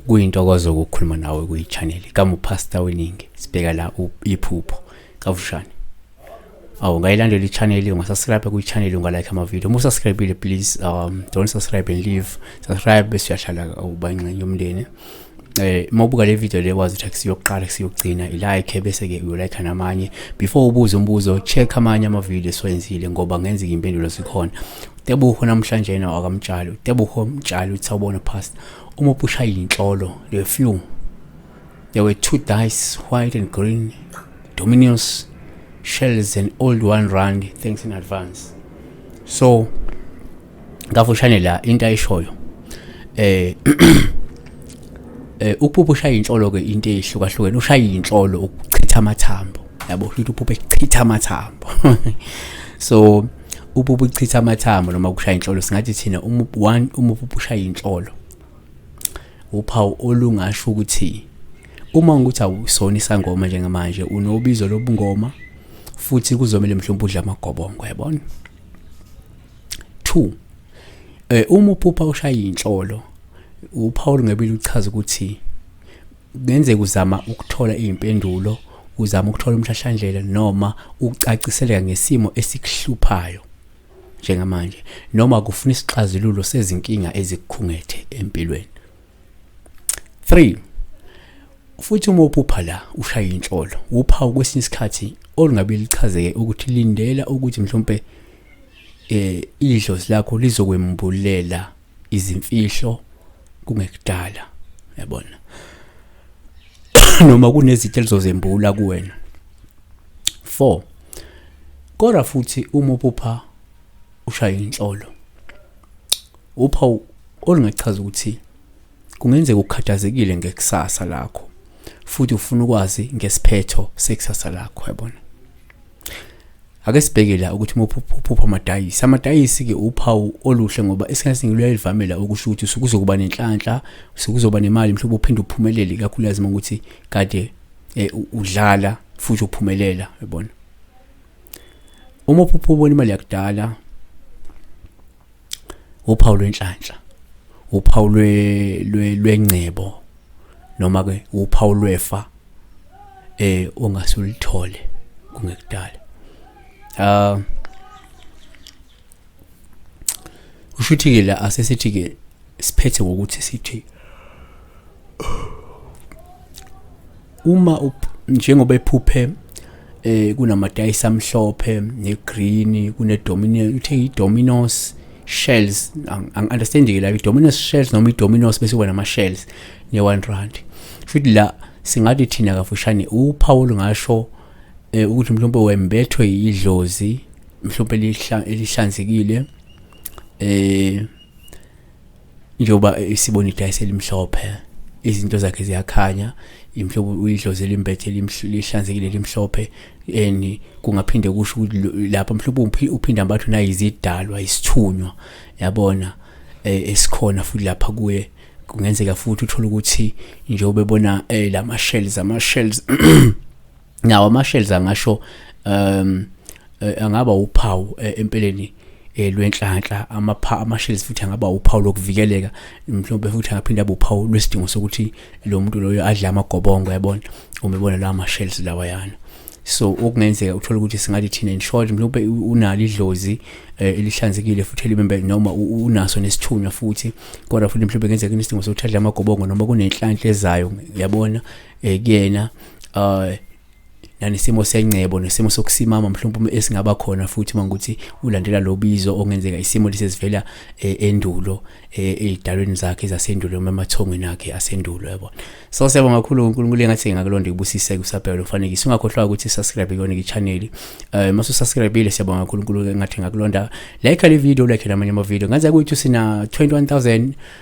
kuyintokozo ukukhuluma nawe kuyi-channel kamupastor weningi sibheka la iphupho kafushane awu ungayilandela i-channel ungasubscribe kwi-channel ungalike amavidiyo uma usubscribile please um don't subscribe and leave subscribe bese uyahlala uba ingxenye yomndeni eh mawubuka le video le wazi ukuthi kusiyokuqala kusiyokugcina ilike bese ke uyolike namanye before ubuze umbuzo check amanye ama video esiwenzile ngoba ngenzeka impendulo sikhona Tebuho namhlanje yena wakamtshalo Tebuho mtshalo uthi sawubona past uma upusha inhlolo le few there were two dice white and green dominions shells and old one rand thanks in advance so kafushane la into ayishoyo eh eh uphupho ushaya inhlolo ke into ehlukahlukene ushaya inhlolo ukuchitha amathambo yabo ukuthi uphupho echitha amathambo so uphupho uchitha amathambo noma ukushaya inhlolo singathi thina uma one uma uphupho ushaya inhlolo uphawu olungasho ukuthi uma ukuthi awusona isangoma njengamanje unobizo lobungoma futhi kuzomele mhlawumbe udla amagobongo yabona 2 eh uma uphupha ushaya inhlolo uPaul ngebili uchaza ukuthi kungenzeka uzama ukuthola izimpendulo uzama ukuthola umhlahlandlela noma ukucaciseleka ngesimo esikuhluphayo njengamanje noma kufuna isixazululo sezinkinga ezikukhungethe empilweni 3 futhi uma uphupha la ushaya inhlolo uphawu kwesinye isikhathi olungabe lichazeke ukuthi lindela ukuthi mhlawumbe eh idlozi lakho lizokwembulela izimfihlo kungekudala yabona noma kunezithe lizozembula kuwena 4 kodwa futhi uma uphupha ushaya inhlolo upha olungachaza ukuthi kungenzeka ukhathazekile ngekusasa lakho futhi ufuna ukwazi ngesiphetho sekusasa lakho yabona ake sibheke la ukuthi uphupha amadayisi amadayisi-ke uphawu oluhle ngoba isikhathi siningi luyayivamela ukusho ukuthi sekuzokuba nenhlanhla sekuzoba nemali mhlawumbe uphinde uphumelele ikakhulukazi uma ukuthi kade um udlala futhi uphumelela yabona uma uphupha ubona imali yakudala uphawu lwenhlanhla uphawu lwengcebo noma ke uphawu lwefa eh ongasulithole kungekudala ah ushuthi ke la asesithi ke siphethe ngokuthi sithi uma njengoba ephuphe eh kunamadayisi amhlophe negreen kunedomino uthe idominos shells angiunderstand ke la idominos shells noma idominos bese wena ama shells ne 1 rand futhi la singathi thina kafushane uphawu lungasho eh, ukuthi mhlawumbe wembethwe idlozi mhlawumbe elihlanzekile eh njengoba isibona idayisi elimhlophe izinto zakhe ziyakhanya imhlobo uyidlozi elimbethe lihlanzekile elimhlophe and kungaphinde kusho ukuthi lapha mhlawumbe umphi uphinde ambathwe nayizidalwa isithunywa yabona eh, esikhona futhi lapha kuye kungenzeka futhi uthole ukuthi njengoba ebona eh, lama shells ama shells nawo ama-shells angasho um eh, angaba uphawu eh, empeleni eh, lwenhlanhla amapha ama-shells futhi angaba uphawu lokuvikeleka mhlawumbe futhi angaphinde abe uphawu lwesidingo sokuthi lo muntu loyo adle amagobongo yabona uma ebona lawa ma-shells lawayana so okungenzeka uthola ukuthi singathi thina in short mhlawumbe unalo idlozi eh, elihlanzekile futhi elibembe noma unaso nesithunywa futhi kodwa futhi mhlawumbe kungenzeka inesidingo sokuthi adle amagobongo noma kunenhlanhla ezayo yabona eh, kuyena uh nanesimo sengcebo nesimo sokusimama mhlawumbe esingaba khona futhi mangukuthi ulandela lobizo ongenzeka isimo lisezivela eh, endulo eh, ezidalweni zakhe zasendulo noma emathongweni akhe asendulo yabo so siyabonga kakhulu uNkulunkulu engathi ngakulonda kubusise kusabheka lomfanekiso ungakhohlwa ukuthi subscribe kuyona ichannel eh masu subscribe siyabonga kakhulu uNkulunkulu engathi ngakulonda like le video like namanye ama video ngaze kuyithi sina 21000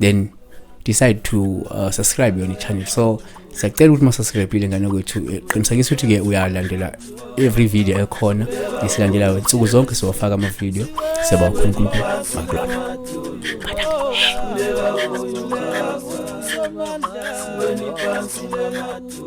then decide to uh, subscribe yona i-channel so siyacela ukuthi masasubscribile ngane kwethu eh, qinisekisa ukuthi ke uyalandela every video ekhona esilandelayo nsuku zonke siwafaka amavideo siyabakhulu nkulunkulu makulona Thank you.